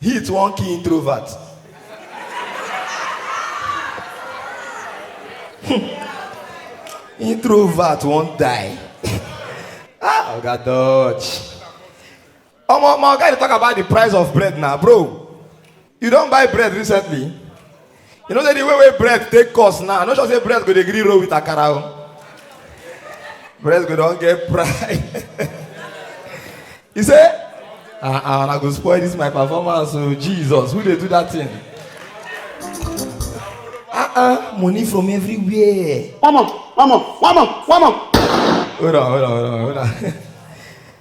Heat wan kill introvert. introvert wan die. ah, Oga Dutch. Omo, my oga dey talk about the price of bread na, bro. You don buy bread recently? You know say the way wey bread take cost now, I no sure say bread go dey gree roll with akara o. Bread go don get price. He say, ah ah, una go spoil this my performance o, Jesus, who dey do that thing? Ah ah, money from everywhere. One more, one more, one more, one more. Hold on, hold on, hold on, hold on.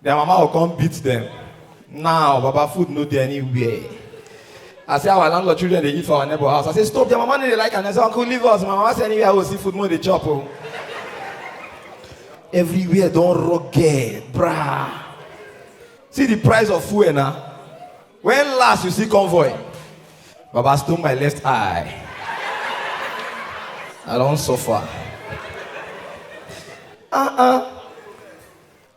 Their mama will come beat them. Now, Baba, food no dey anywhere. I say our landlord children dey eat for our neighbor house. I say stop, their mama no dey like am. I say uncle leave us. My mama say anywhere I go see food, mo dey chop o. Everywhere don rugged, brah. See the price of fuel na. When last you see convoy? Baba stone my left eye. I don suffer. Uh-uh.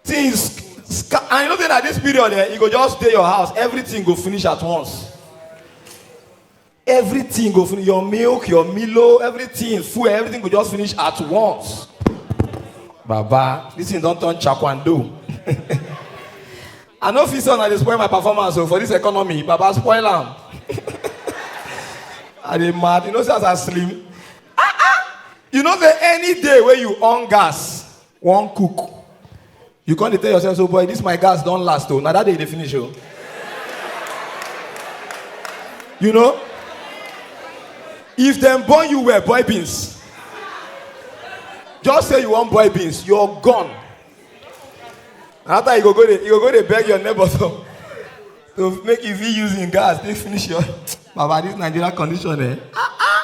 things sca- and you know say na this period eh you go just dey your house everything go finish at once everything go finish your milk your milo everything fuel everything go just finish at once baba this thing don turn chakwando i no fit say una dey spoil my performance o for this economy baba spoil am i dey mad you know say as i slim ah ah you know say any day wey you on gas wan cook you come dey tell yourself so boy this my gas don last o na that day e dey finish o you know if dem born you well boy beans just say you wan boy beans you're gone na after you go go dey you go go dey beg your neighbor to to make you fit use him gas take finish your baba this nigeria condition eh ah ah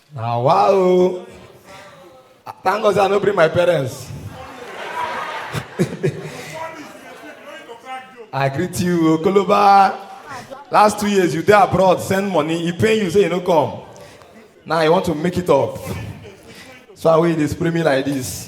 Na wa o. Thank God say I no bring my parents. I greet you, Okoloba. Last two years you dey abroad, send money, e pain you say you no come. Now you want to make it up. So I wey you dey spray me like this.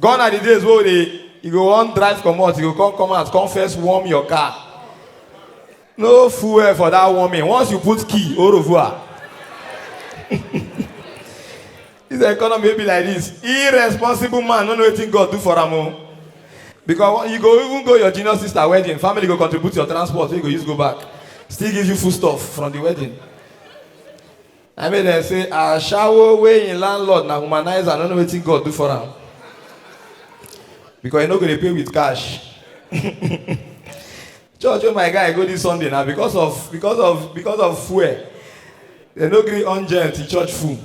gone are the days wey we dey you go wan drive comot you go come come out come first warm your car no fuel for that warming once you put key au revoir this economy wey be like this irresponsible man no know wetin god do for am o because you go even go your junior sister wedding family go contribute your transport wey you go use go back still give you food stuff from the wedding Na make dem say ashawo wey him landlord na womanizer no know wetin God do for am because he no go dey pay with cash. Church wey my guy go this Sunday na because of because of because of fuel dem no gree on gen till church full.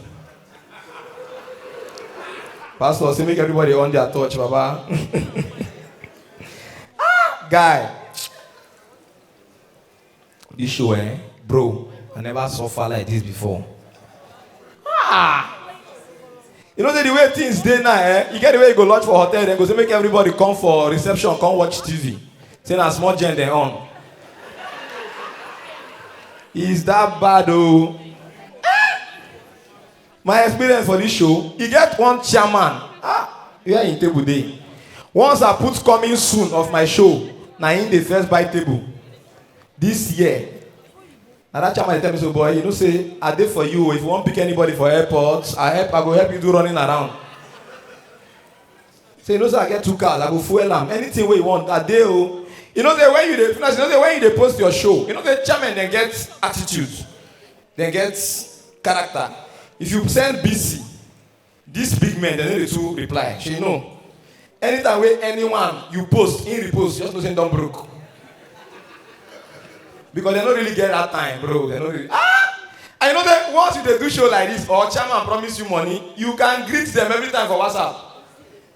Pastor say make everybody on their torch baba. Ah guy. This show, eh? Bro, I never suffer like this before. Ah! You know the way things dey now, eh? You get the way you go lodge for hotel, then go say make everybody come for reception, come watch TV. Say na small gen dem on. Is that bad oh? my experience for this show e get one chairman ah where him table dey once i put coming soon of my show na him dey first buy table this year na that chairman dey tell me so boy you know say i dey for you o if you wan pick anybody for airport i help i go help you do running around say you know say i get two cars i go fuel am anything wey you want i dey o you know say when you dey finish you know say when you dey post your show you know say chairman dem get attitude dem get character if you send busy dis big men dem no dey too reply shey you know anytime wey anyone you post him repost just know say him don broke because dem no really get that time bro dem no really ah i know say once you dey do show like this or chairman promise you money you can greet them every time for whatsapp